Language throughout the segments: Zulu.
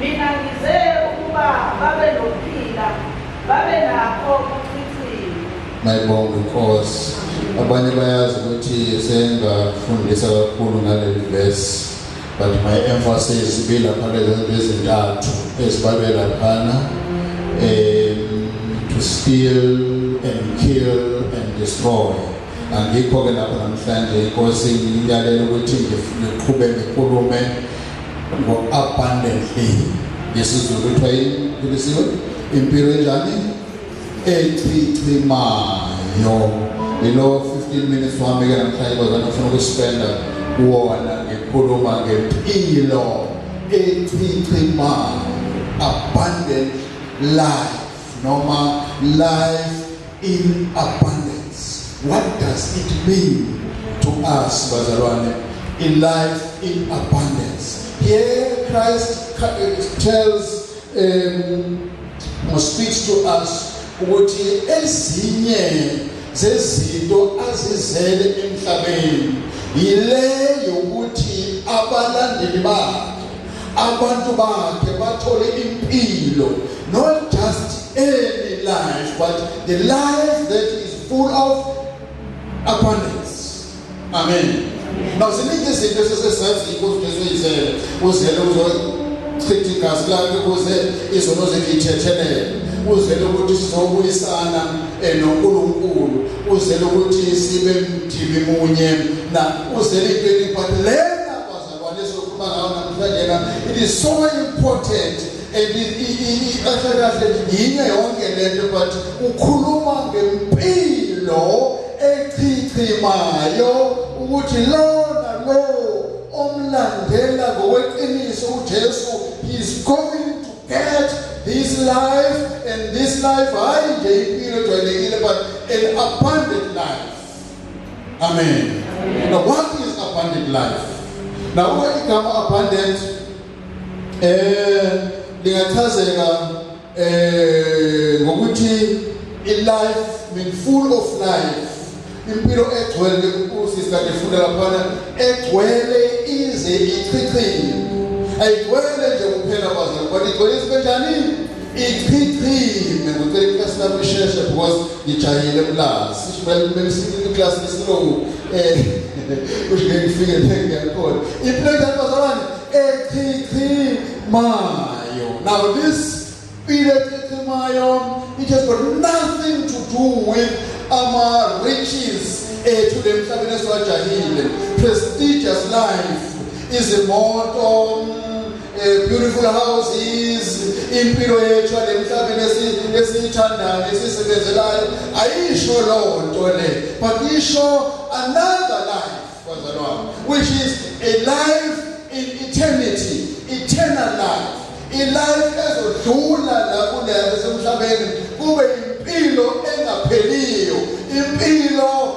Mina ngize ukuba babe nokuphila, babe nakho kuchithiwe. Mayibonga inkosi. Abanye bayazi ukuthi sengafundisa kakhulu ngaleli verse but my emphasis ibilapha lezinto ezintathu ezibalwe laphana um to steal and kill and destroy angikho-ke lapho namhlanje inkosi ngiyalela ukuthi ngiqhube ngikhulume ngo-abundantly ngesizulu kuthiwa yilisiwe impilo enjani echichimayo yilo 15 minutes wami-ke namhlanje kwazana ufuna ukuspenda kuwona ngikhuluma ngempilo echichimayo abundant life noma life in abundance. What does it mean to us, bazalwane? A life in abundance. Here Christ tells um, or speaks to us ukuthi ezinye zezinto azizele emhlabeni yile yokuthi abalandeli bakhe Abantu bakhe bathole impilo not just any life but the life that is full of abundance. Amen. Now ziningi izinto esesesazi inkosi Jesu yizele uzele uzochitha igazi lakhe ukuze izono zethu ithethelele uzele ukuthi sizobuyisana eh, noNkulunkulu uzele ukuthi sibe mdimi munye na uzele into eliphathelene It is so important kahle kahle yinye yonke lento but ukhuluma ngempilo echichimayo ukuthi lona lo omlandela ngokweqiniso uJesu he is going to get this life and this life hayi nje impilo ejwayelekile but an abundant life Amen. Amen. Now one thing is abundant life. Now uma igama abundant eh lingachazeka eh ngokuthi i life mean full of life impilo egcwele usisi kade funda laphana egcwele ize ichichile ayigcwele nje kuphela kwazo kodwa igcwele isinto njani ichichime ngicela iklasi lami lisheshe because ngijahile mlazi sishibele kumele sikhulile iklasi lesilungu um eh, kusho ngeke ngifike ngeke ngiyakhona iplate yabazalwane echichimayo now this ile echichimayo it has got nothing to do with ama-riches ethu le mhlabeni esiwajahile prestigious life izimoto Eh, beautiful houses impilo yethu lemhlabeni esiyithandayo esisebenzelayo ayisho loo nto le but isho another life wazalo wami which is a life in eternity eternal life ilife ezodlula la kuleyo esemhlabeni kube impilo engapheliyo impilo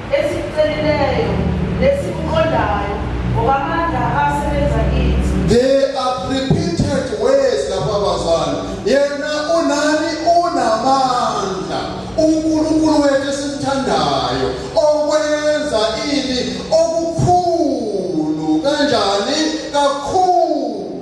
Esikucelileyo nesikuqondayo ngokwamandla asebenza kithi. There are repeated words lapha bazali. Yena unani unamandla. UNkulunkulu wethu esimthandayo okwenza ini okukhulu kanjani kakhulu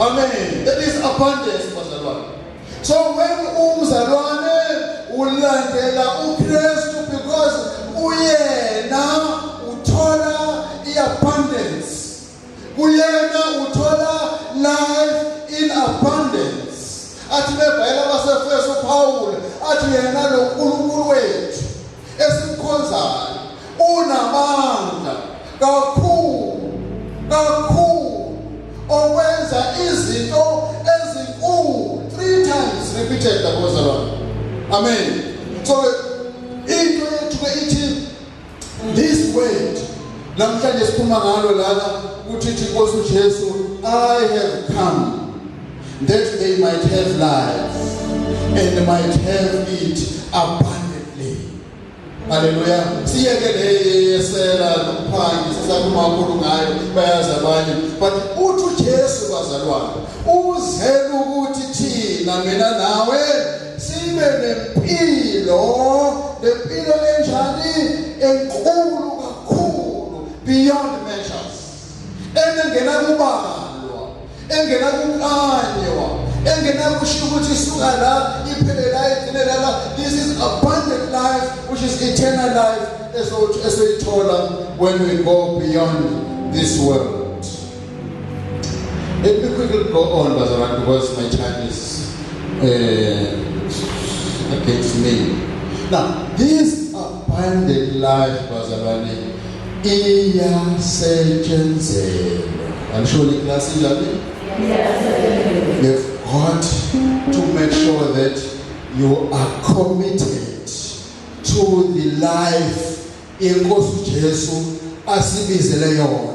Amen. That is abundance bazalwane. So when umzalwane ulandela uKristu because uyena uthola iabundance. Kuyena uthola life in abundance. Athi bebhayela baseFeso uPawulu athi yena lo esimkhonzayo unamandla kakhulu kakhulu okwenza izinto ezinkulu three times repeated the gospel amen so into yethu ke ithi this word namhlanje siphuma ngalo lana ukuthi ithi inkosi uJesu i have come That they might have life and might have it abundantly. Haleluya. Siyeke le yesela nokuphangi sisakhuluma kakhulu ngayo bayazi abanye. But uthi uJesu bazalwane uzela ukuthi thina mina nawe sibe nempilo nempilo enjani enkulu kakhulu beyond engenakubhalwa engenakukanywa engenakushiya ukuthi isuka la iphele la igcine lala this is abundant life which is eternal life esothi esoyithola when we go beyond this world let me quickly go on bazalwane because my time is uh, against me now these Abundant life bazalwane iyasetshenzelwa. Anishoni iklasi njani? Iyasetshenziswa. You've got to make sure that you are committed to the life inkosi uJesu asibizele yona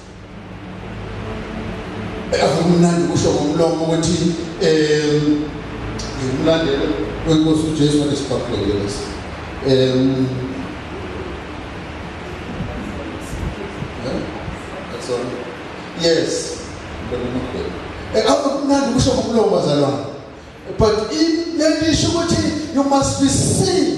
akumnandi kusho ngomlomo ukuthi um ngimlandele kwenkosi ujesu wanesibhakulekeleso um yes eh, akumnandi kusho ngomlomo bazalwane but lento isho ukuthi you must be seen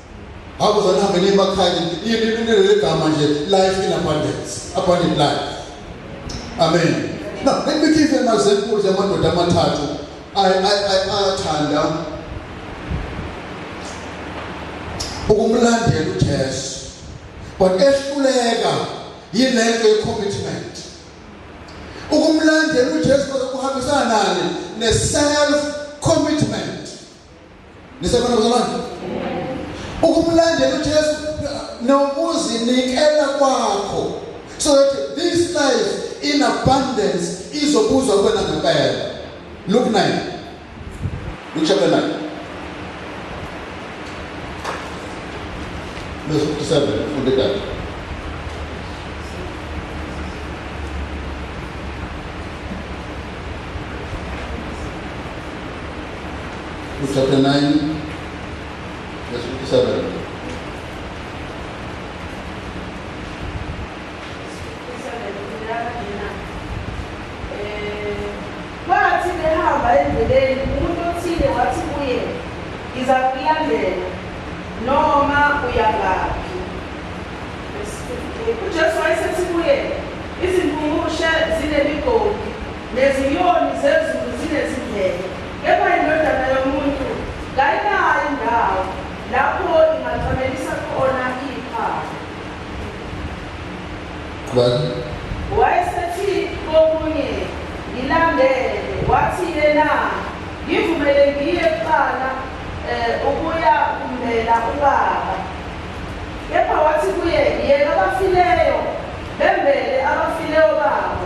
Hawu zanihambe niye emakhaya leli gama nje life in abundance abundant life amen no let me give you an example yamadoda amathathu ayathanda ukumlandela ujesu but ehluleka yile nto ye-commitment ukumlandela ujesu kuhambisana nani ne-self commitment Nisekhona bazalwane? Ukumlandela uJesu nokuzinikela kwakho so that this life in abundance izobuzwa kuwena ngempela. Luke 9. Luke chapter 9. Verse 57 funde kahle. Chapter 9 verse 57. Wathi behamba endleleni umuntu othile wathi kuye ngiza kulandela noma uyangaphi ujesu wayesethi kuye izimpungushe zinemigodi Nezinyoni zezulu zinezindlebe, kepha indodana yomuntu kayinayo indawo lapho ingacamelisa khona iphawu. Qhubeka. Wayesethi kokunye, Ngilandele. Wathi yena, Ngivumele ngiye kuqala um ukuya kumbela ubaba. Kepha wathi kuye, Yeka abafileyo, bembele abafileyo babo,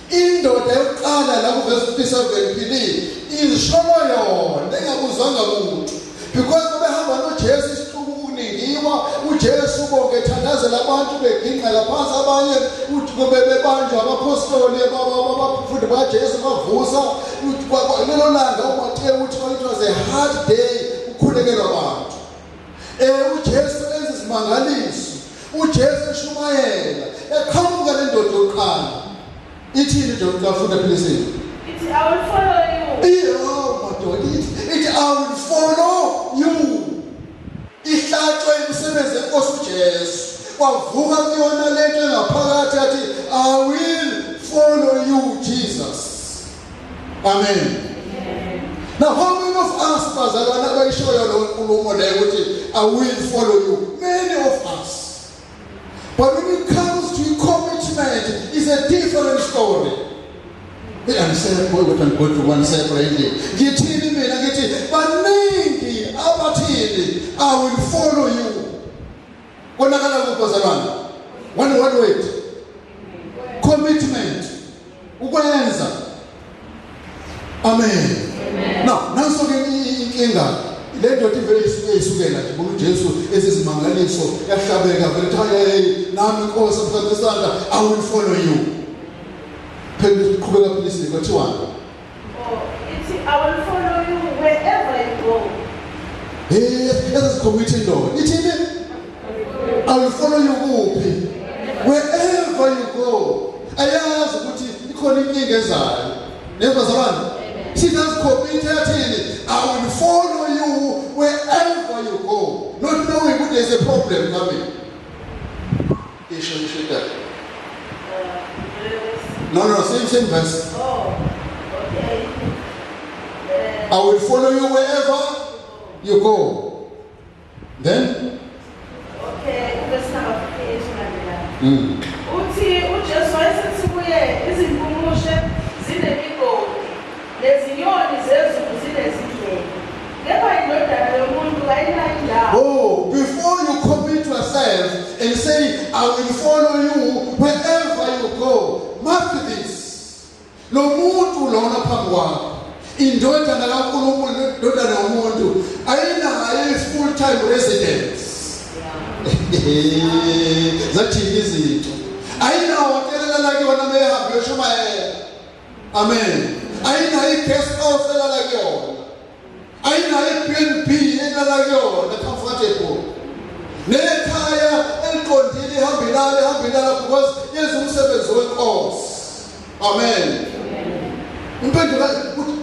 Indoda yokuqala la kuveza ukuthi isevephilile izisholo yona engakuzwanga muntu because babehamba noJesu isihluku kuningiwa uJesu bonke ethandazela abantu begingqela phansi abanye kube bebanjwa abaphostoli abafundi bakaJesu bavusa lelo langa uMateyu uthi it was a hard day ukhulekelwa abantu Eh uJesu enza izimangaliso. UJesu eshumayela eqhamuka le ndoda yokuqala. Ithini nje ukafunda philisiwe? Ithi I will follow you. Iyo madoda ithi ithi I will follow you. Ihlatshwe imisebenzi enkosi uJesu. Kwavuka kuyona lento engaphakathi athi I will follow you Jesus. Amen. Now, how many of us bazalwana bayishoyo lo nkulumo leyo ukuthi I will follow you. Many of us. But when it comes to commitment, it's a different story. Angisekho ukuthi angigodwa ubani sekho endlini. Ngithini mina ngithi baningi abathini I will follow you. Konakala kuphi bazalwane? One one word. Commitment. Ukwenza. Amen. Now, nanso ke inkinga le ndoda ivele isuke isukela nje ngoba uJesu esizimangaliso yahlabeka vele kuthiwa hey nami inkosi mfana isandla i will follow you phela uqhubeka philisi kwathiwani Committee no. It is it. I will follow you kuphi. Wherever you go. Ayazi ukuthi ikhona inkinga ezayo. Neva zabani? She does commit yathini? I will follow you wherever you go. Not knowing ukuthi there's a problem coming. Isho isho idabi. No, no, same, same verse. Oh, okay. I will follow you wherever you go. Then? Okay, verse number 58 ulandelayo. Mm. Uthi uJesu wayesethi kuye izimpungushe zinemigodi Nezinyoni zezulu zinezindlebe, kepha indodana yomuntu kayinayo indawo. Oh, before you commit yourself and say, I will follow you wherever you go, mark this. Lo muntu lona phambi kwakho, indodana kaNkulunkulu nendodana yomuntu ayinayo i-full time residence. Zathini izinto. Ayinawo hotelela lakhe wona mehambe yoshumayela. Amen. Ayinayo i-guest house elala kuyona. Ayinayo i-BNB elala kuyona comfortable. Nekhaya eliqondile ihamba ilala ihamba ilala because yenza umsebenzi wenkosi. Amen. Impendulo ukuthi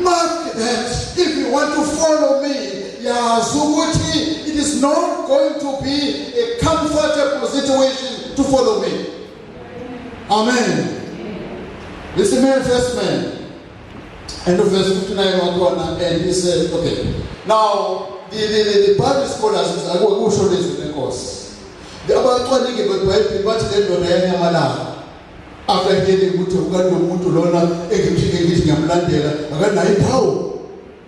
mark that if you want to follow me yazi ukuthi it is not going to be a comfortable situation to follow me. Amen. This is man first man. And the verse 59 on one and he said, okay. Now the the, the, the Bible scholars is I will show this in the course. The abacwaningi beBhayibheli bathi le ndoda yanyamalala after hearing ukuthi ukanti umuntu lona engiphike ngithi ngiyamlandela akanayo iphawu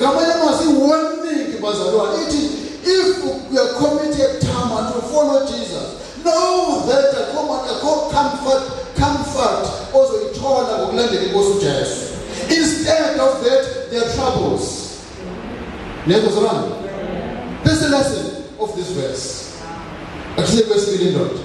ngamanye amazwi iwarning bazalwane ithi if you are committed time and you follow jesus know that akho manje akho comfort comfort ozoyithola ngokulandela inkosi ujesu instead of that there are troubles niyezwa zalwane this is the lesson of this verse akusiye kwesibili indoda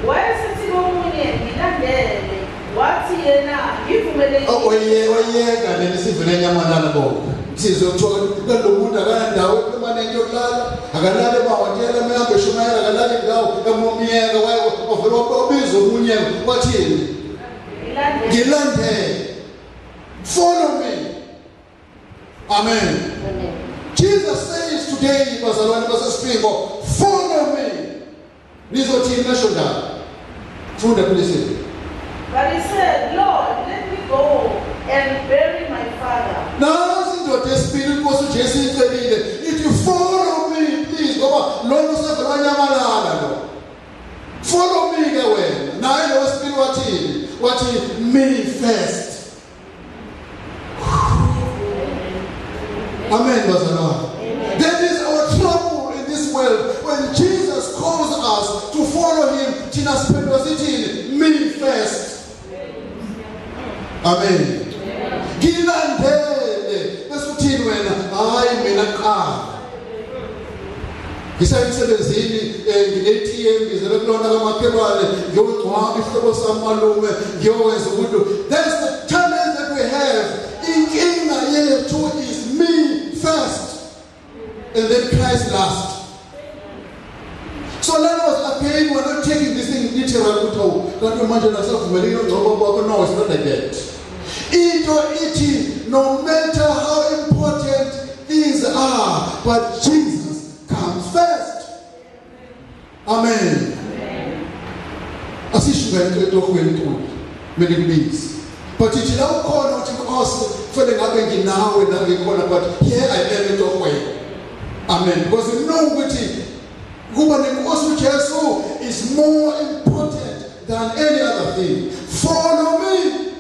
Wayesethi komunye, Ngilandele. Wathi yena, Ngivumele yini? O- oye- oyeka nini sivele enyamanana bonke sizwe kuthiwa kalo muntu akanandawo emaneni yokulala akalale emahhotela emehambe eshumayela akalale ndawo emomyeka waye wavele wabiza omunye wathini Ngilandele. ngilandele follow me amen Jesus says today, bazalwane basesiphingo, follow me. Nizothini nasho ndaba? Funda kulesizwe. But he said, Lord, let me go and bury my father. Nansi indoda esibili inkosi uJesu icebile ithi follow me please ngoba lona usevele wanyamalala lo. Follow me ke wena. Naye lo wesibili wathini? Wathi me first. Amen, bazalwane. There is our trouble in this world when Jesus calls us to follow him. Thina siphendula sithini? Me first. Amen. Ngilandele bese uthini wena? Hayi mina qala. ngisemsebenzini eh, ngine-tm ngizele kulona kamakhelwane ngiyogcwaba isihlobo samalume ngiyokwenza umuntu that's the challenge that we have inkinga yethu is me first and then christ last so let us again we're not taking this thing literal ukuthi awu kanti manje nasavumelekile ongcobo kwakho no it's not like that Into ithi no matter how important things are but Jesus comes first. Amen. Asishuka into etohweni enkulu mele kubizi. But ithi la ukhona uthi Nkosi kufanele ngabe nginawe la ngikhona but here I am etohweni. Amen. Because you know ukuthi kuba nenkosi uJesu is more important than any other thing. Follow me.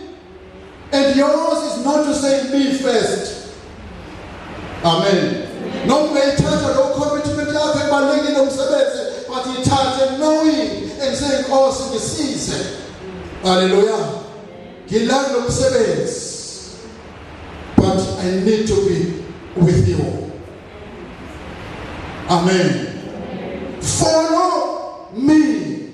And yours is not to say me first. Amen. No ungayithatha lo commitment yakho ebalulekile umsebenzi but yithathe knowing and saying inkosi oh, ngisize. Hallelujah. Ngilanda lo msebenzi. But I need to be with you. Amen. Follow me.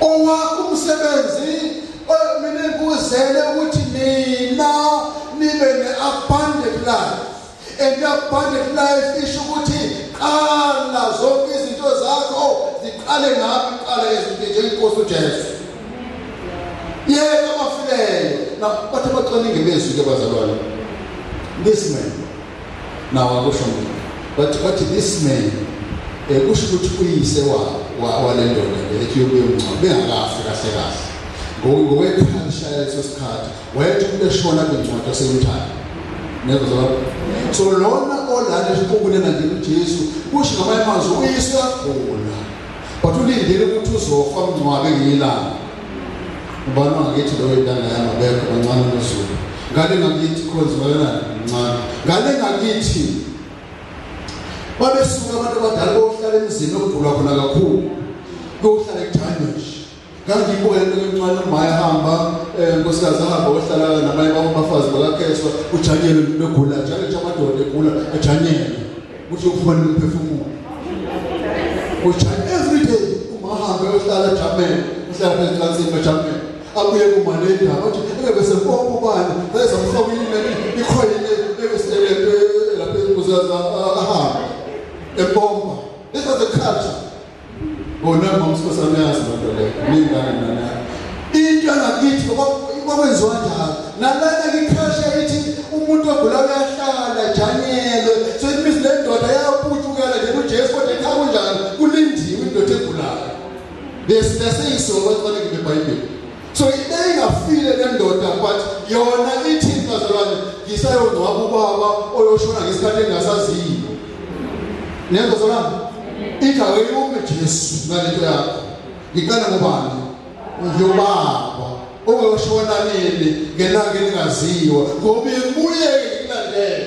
Owakho umsebenzi eh, mina ngikuzele ukuthi nina nibe ne-abundant life and i-abundant life isho ukuthi qala zonke izinto zakho ziqale ngaphi qala ezinto njengenkosi ujesu yeka abafileyo na bathi abacwaningi bezwi ke bazalwane listen nawo akusho mina bathi bathi this man eh kusho ukuthi uyise wa wale ndoda le ethi yokuye umncwa bengakafi kahle kahle ngokwekhalisha leso sikhathi wayethi umuntu eshona kwincwadi yasemthanda nezo zalapho so lona olala esiqubule kanje uJesu kusho ngamanye amazwi uyise wagula but ulindele ukuthi uzofa umncwabe ngilana ubani wangakithi lowo intanga yami abekho kancane unoZulu ngale ngakithi khonzi bayonani mncane ngale ngakithi babesuka abantu abadala bokuhlala emzini okuvulwa khona kakhulu kokuhlala ekuthanywe ngangibuka into emncane umaya hamba eh, nkosikazi ahamba ohlala nabanye babafazi bakakheswa ujanyelwe begula njalo nje amadoda egula ajanyelwe Kusho kufanele uphefumule. Kusho every day umahambe uhlala jamele, uhlala phezu kanzima bajamele. Abuye kumane indaba ukuthi ebe sempompo bani, bese mfaka imali ikhoyile ebe selele lapha izinto zaza ahambe. Empompo. This was a culture. Bona ngomsosana yazi lento le. Ningane nana. Into angakithi kwakwenziwa njalo. Nalana ngikhashe ithi umuntu ogula uyahlala janyele. So it means le ndoda yaputukela nje kuJesu kodwa ekhaya kunjani? Kulindiwe indoda egulayo. Bese bese isongo kwakubekwe eBhayibhelini. so ibe ingafile le ndoda but yona ithini bazalwane ngisayongcwaba ubaba oyoshona ngesikhathi engasaziyo nenzo zona ithi aweyume Jesu ngalento yakho ngiqale ngobani ngiyobaba oyoshona nini ngelanga elingaziwa ngoba kuye kulandela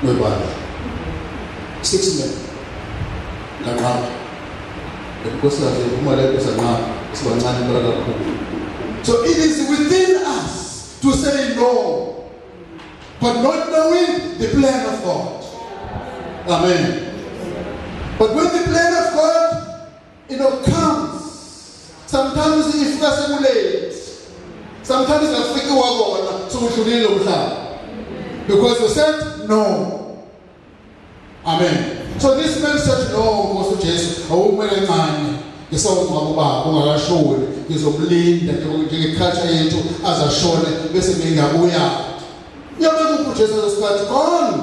kwebandla six men nganqaba inkosikazi iphuma leyo sanqaba sibancane impela kakhulu so it is within us to say no but not knowing the plan of God amen but when the plan of God You know, comes. Sometimes ifika sekulate. Sometimes akufiki wakona sokudlulile umhlaba. Because you said no. Amen. So this man said no Nkosi uJesu awumele encane. ngisawungcwaba ubaba ungakashoni ngizomlinda njengeculture yethu azashone bese ngingabuya uyabeka uJesu ngesikhathi gone